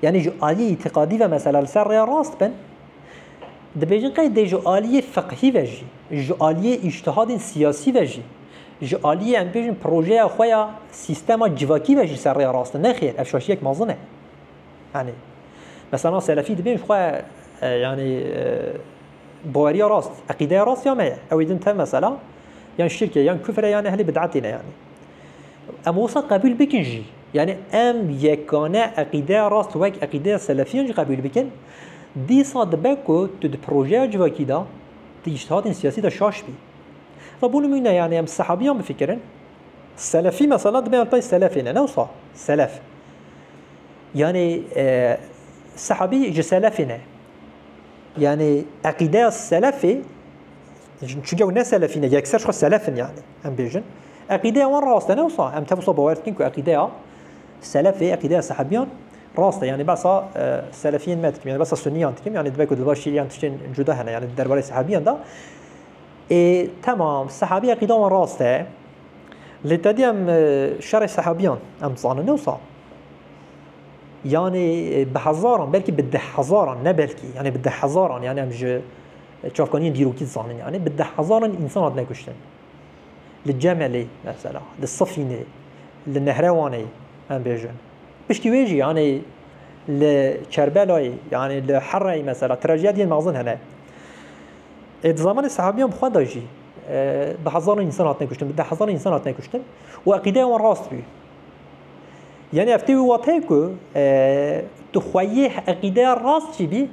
yanî ji aliyê îtîqadî ve mesela li ser rêya rast bin dibêjin qey dê ji aliyê fiqhî ve jî ji aliyê îştihadên siyasî ve jî ji aliyê em bêjin projeya xwe ya sîstema civakî ve jî ser rêya rast bin nexêr ev şaşiyek mezin e. Yanî mesela selefî dibê ji xwe yanî baweriya rast, eqîdeya rast ya me ye. Ew ê din tev mesela yan şirk e, yan kufr e, yan ehlê bid'etê ne yanî. Em wisa qebûl bikin jî. Yanî em yekane eqîdeya rast wek eqîdeya selefiyan jî qebûl bikin. Dîsa dibe ku tu di projeya civakî de di îştihatên siyasî de şaş bî. Ve bû nimûne yanî em sehabiyan bifikirin. Selefî mesela dibe yan tayê selefê ne. Ne wisa selef. Yanî sehabî ji selefî ne. Yanî eqîdeya selefî çunke ew ne selefî ne yekser xwe selefin yanî em bêjin. Eqîdeya wan rast e ne wisa em tevsa bawer dikin ku eqîdeya selefê eqîdeya sehabiyan rast e yanî besa selefiyên me dikim yanî besa suniyan dikim yanî dibe ku di başî yan tiştên cuda hene yanî derbarê sehabiyan da ê temam sehabî eqîda wan rast e. Lê tedî em şerê sehabîyan em dizanin ewsa yanê bi hezaran belkî bi deh hezaran ne belkî yanê bi deh hezaran yanê em ji çavkaniyên dîrokî dizanin yanê bi deh hezaran însan hatine kuştin. Li Cemelê mesela, li Sifînê, li Nehrewanê em bêjin. Piştî wê jî yanê li Kerbelayê yanê li Hereyê mesela trajediyên mezin hene. Ê di zamanê sehabîyan bi xwe de jî Bi hezaran însan hatine kuştin, bi deh hezaran însan hatine kuştin û eqîdeya wan rast bû. Yani ev tê wî wateyê ku tu xweyê eqîdeya rast jî bî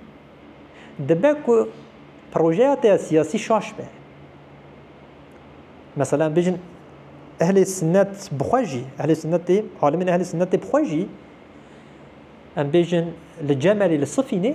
dibe ku projeya te ya siyasî şaş be. Mesela bêjin ehlê sinnet bi xwe jî, ehlê sinnet tê, alimên ehlê sinnet tê bi xwe jî em bêjin li Cemelê li Sifînê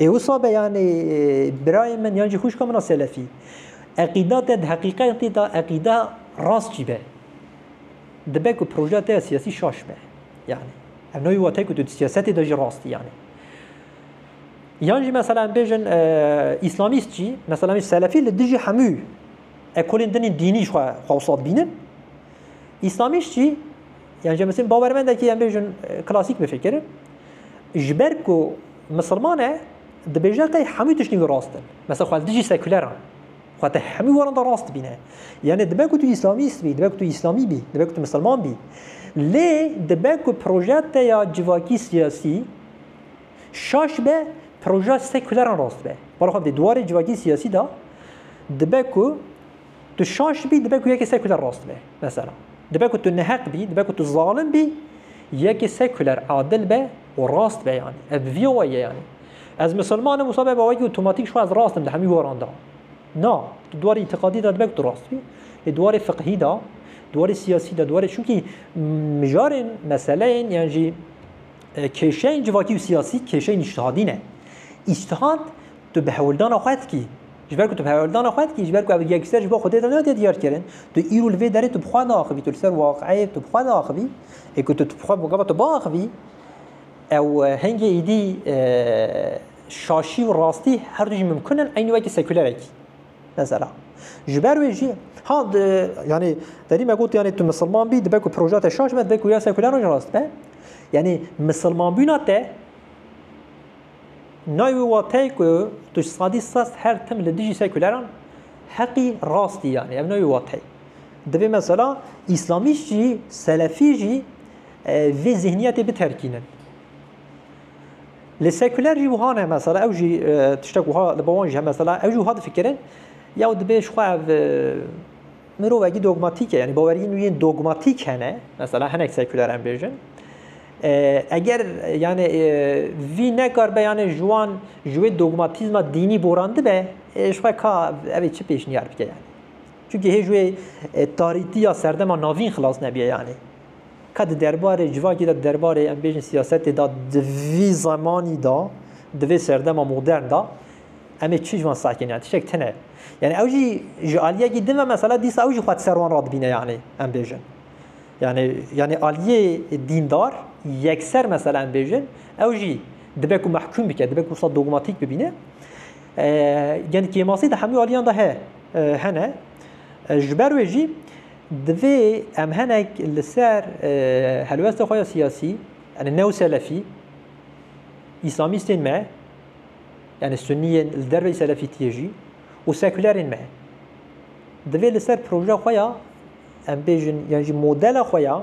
Ê wisa be yanê birayê min yan jî xwîşka min a selefî. Eqîda te di heqîqetê de eqîda rast jî be. Dibe ku projeya te ya siyasî şaş be. Yani ev navê watayê ku tu di siyasetê de jî rast î yani. Yan jî mesela em bêjin îslamîst jî mesela selefî li dijî hemû ekolên din ên dînî jî xwe xwe wisa dibînin. Îslamîst jî yan ji misin bawermendekî em bêjin klasîk bifikir ji ber ku misilman e dibêje qey hemû tiştên wî rast in mesela xwez dijî sekûler an xwe te hemû waran da rast bîne yanê dibe ku tu îslamîst bî dibe ku tu îslamî bî dibe ku tu misilman bî lê dibe ku proje te ya civakî siyasî şaş be proje sekûleran rast be bala xwe dê duwarê civakî siyasî da dibe ku Tu şaş bî dibe ku yekê sekuler rast be. Mesela, dibe ku tu neheq bî, dibe ku tu zalim bî, yekê sekuler adil be û rast be yanî. Ev bi vî awayî ye yanî. Ez misilman im wisa be bawekî otomatîk ji xwe ez rast im di hemî goran de. Na, tu di warê îtîqadî de dibe ku tu rast bî, lê di warê fiqhî de, di warê siyasî de, di warê çimkî mijarên, meseleyên yan jî kêşeyên civakî û siyasî kêşeyên îctihadî ne. Îctihad. Tu bi hewldana xwe dikî. Ji ber ku tu bi hewldana xwe dikî, ji ber ku ev yekser ji bo Xwedê re nate diyarkirin, tu îro li vê derê tu bi xwe naaxivî, tu li ser waqeyê tu bi xwe naaxivî. Ê ku tu bi xwe gava tu biaxivî, ew hingê êdî şaşî û rastî her du jî mimkun in eynî wekî sekûlerekî. Mesela. Ji ber wê jî ha yanî derî me got yanî tu misilman bî dibe ku proja te şaş be dibe ku ya sekûleran jî rast be. Yanî misilmanbûna te Nayê wî wateyê ku tu ji sadî sed her tim li dijî sekûleran heqî rastî yanî ev nayê wî wateyê. Divê mesela îslamîst jî selefî jî e, vê zihniyetê biterkînin. Li sekûler jî wiha ne mesela ew jî e, tiştek wiha li bawan jî he mesela ew jî wiha difikirin ya divê ji xwe ev e, Mirovekî dogmatîk e, yanî baweriyên wî yên dogmatîk hene, mesela hinek sekûler em bêjin. Eger yanê vî nekar be yanê ji wan ji wê dogmatîzma dînî borandibe, ji xwe ka evê çi pêşniyar bike yanî. Çunkî hê ji wê tarîtiya serdema navîn xilas nebiye yanî. Ka di derbarê civakê de di derbarê em bêjin siyasetê de di vî zemanî de, di vê serdema modern de Em ê çi ji wan sakîn yan tiştek tune. Yanî ew jî ji aliyekî din ve mesela dîsa ew jî xwe di ser wan radibîne yanî em bêjin. Yanî yanî aliyê dîndar yekser mesela em bêjin ew jî dibe ku mehkûm bike, dibe ku wisa dogmatîk bibîne. Yanî kêmasî di hemû aliyan de he hene. Ji ber wê jî divê em henek li ser helwesta xwe ya siyasî, yani new selefî, îslamîstên me, yanî Sunniyên li derveyî Selefîtiyê jî û sekûlerên me divê li ser projeya xwe ya em bêjin yan jî modela xwe ya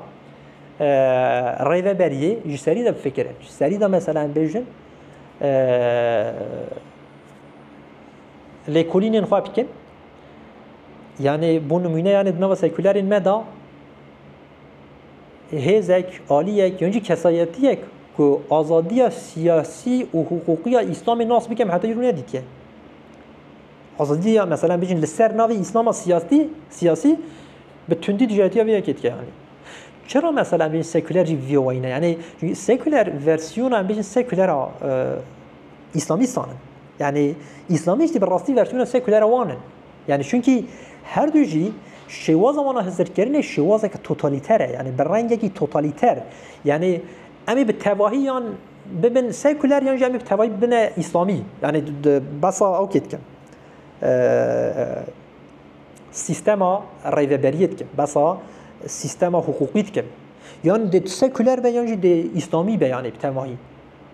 rêveberiyê ji serî de bifikirin. Ji serî de mesela em bêjin lêkolînên xwe bikin yanê bû nimûne yanê di nava sekûlerên me da Hêzek, aliyek yan jî kesayetiyek ku azadiya siyasî û hiqûqiya Îslamê nas bikem heta îro ne dike. Azadiya mesela bijin li ser navê Îslama siyasî siyasî bi tundî dijatiya vê yekê dike yanî. Çira mesela bijin seküler jî vê wayî ne yanî seküler versiyona bijin sekülera Îslamîstan in. Yani İslamist bir rastî versiyona sekulera wan in. Yanî çunkî her du jî şêwaza wan a hizirkirinê şêwazeke totalîter e, yanî bi rengekî totalîter. Yanî em ê bi tevahî yan bibin sekuler yan jî em ê bi tevahî bibine îslamî. Yanî di besa okê dikim. Sîstema rêveberiyê dikim, besa sîstema hiqûqî dikim. Yan dê sekuler be yan jî dê îslamî be yanî bi tevahî.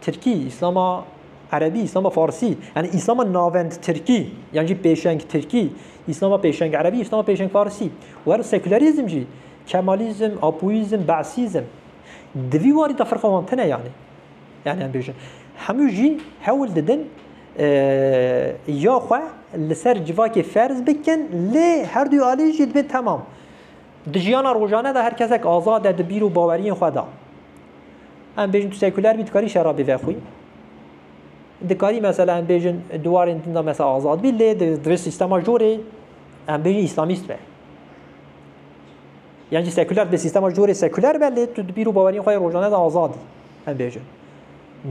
Tirkî, Îslama Erebî, Îslama Farsî, yanî Îslama navend Tirkî yan jî pêşeng Tirkî, Îslama pêşeng Erebî, Îslama pêşeng Farsî û her sekûlerîzm jî, Kemalîzm, Apoyîzm, Be'sîzm. Di vî warî de firqa wan tune yanî. Yanî em bêjin hemû jî hewl didin ya xwe li ser civakê ferz bikin lê her duyê alî jî dibên temam. Di jiyana rojane de her kesek azad e di bîr û baweriyên xwe de. Em bêjin tu sekuler bî dikarî şerabê vexwî. Dikarî mesela em bêjin di warên din de mesela azad bî lê di vê sîstema jorê em bêjin îslamîst be. Yan jî sekuler di vê sîstema jorê sekuler be lê tu di bîr û baweriyên xwe rojane de azadî em bêjin.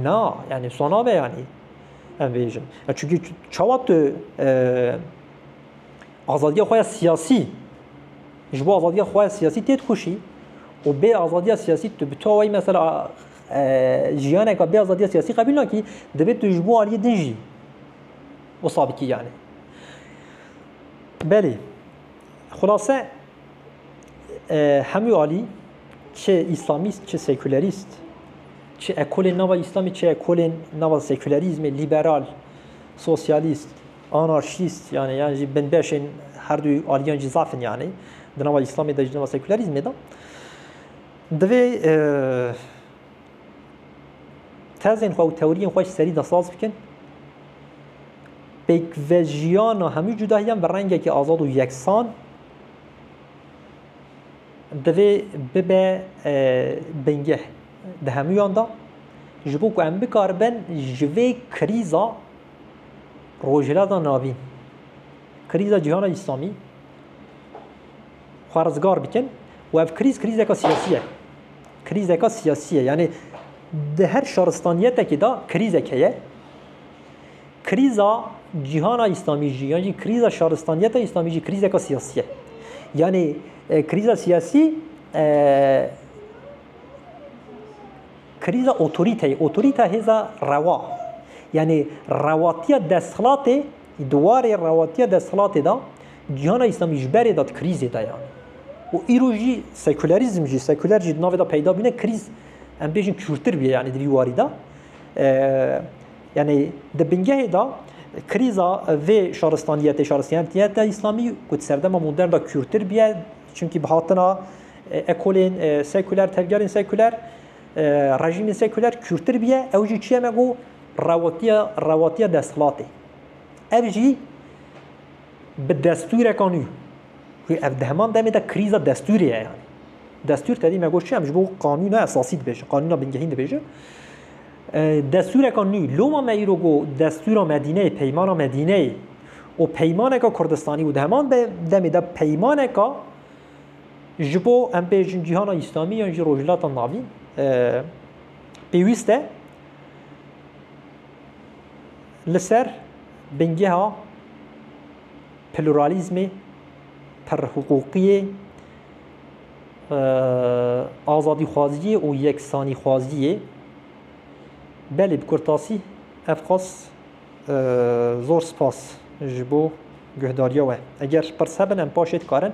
Na yani sona be yani. Em bêjin. Çünkü çawa tu Azadiya xwe ya siyasî ji bo azadiya xwe ya siyasî tê dikoşî û bê azadiya siyasî tu bi tu awayî mesela jiyaneka bê azadiya siyasî qebîl nakî divê tu ji bo aliyê din jî wisa bikî yanî. Belê xulase hemû alî çi îslamîst çi sekûlerîst çi ekolên nava îslamî çi ekolên nava sekûlerîzmê lîberal sosyalîst Anarşîst yanî yan jî binbeşên herdû aliyan jî zaf in yanî di nava îslamê de jî di nava sekûlerîzmê de. Divê tezên xwe û tewriyên xwe ji serî de saz bikin. Pêkvejiyana hemû cudahiyan bi rengekî azad û yeksan divê bibe bingeh di hemûyan de ji bo ku em bikaribin ji vê krîza Rojhilata Navîn, krîza cîhana Îslamî xwe rizgar bikin û ev krîz krîzeka siyasî ye. Krîzeka siyasî ye yanî di her şaristaniyetekê de krîzek heye. Krîza cîhana Îslamî jî yan jî krîza şaristaniyeta Îslamî jî krîzeka siyasî ye. Yanî krîza siyasî Krîza otorîteyê, otorîte hêza rewa, yanî rewatiya desthilatê, di warê rewatiya desthilatê de cîhana Îslamî ji berê de di krîzê de ye û îro jî sekûlerîzm jî, sekûler jî di navê de peyda bûne, krîz em bêjin kûrtir bûye yanî di vî warî de. Yanî di bingehê de krîza vê şaristaniyetê, şaristaniyeta Îslamî ku di serdema modern de kûrtir bûye, Çimkî bi hatina ekolên sekuler, tevgerên sekuler, rejîmên sekuler kûrtir bûye, ew jî çiye me ku rewatiya rewatiya desthilatê. Ev jî bi destûreka nû ku ev di heman demê de krîza destûrê ye yani. Destûr tevî me got çi em ji bo qanûna esasî dibêjin, qanûna bingehîn dibêjin. Destûreka nû, loma me îro got Destûra Medîneyê, Peymana Medîneyê û Peymaneka Kurdistanî û di heman demê de peymaneka ji bo em bêjin cîhana Îslamî yan jî Rojhilata Navîn pêwîst e li ser bingeha pluralîzmê, pirhiqûqiyê, Azadîxwaziyê û yeksanîxwaziyê belê bi kurtasî ev qas zor spas ji bo guhdariya we. Eger pirs hebin em paşê dikarin.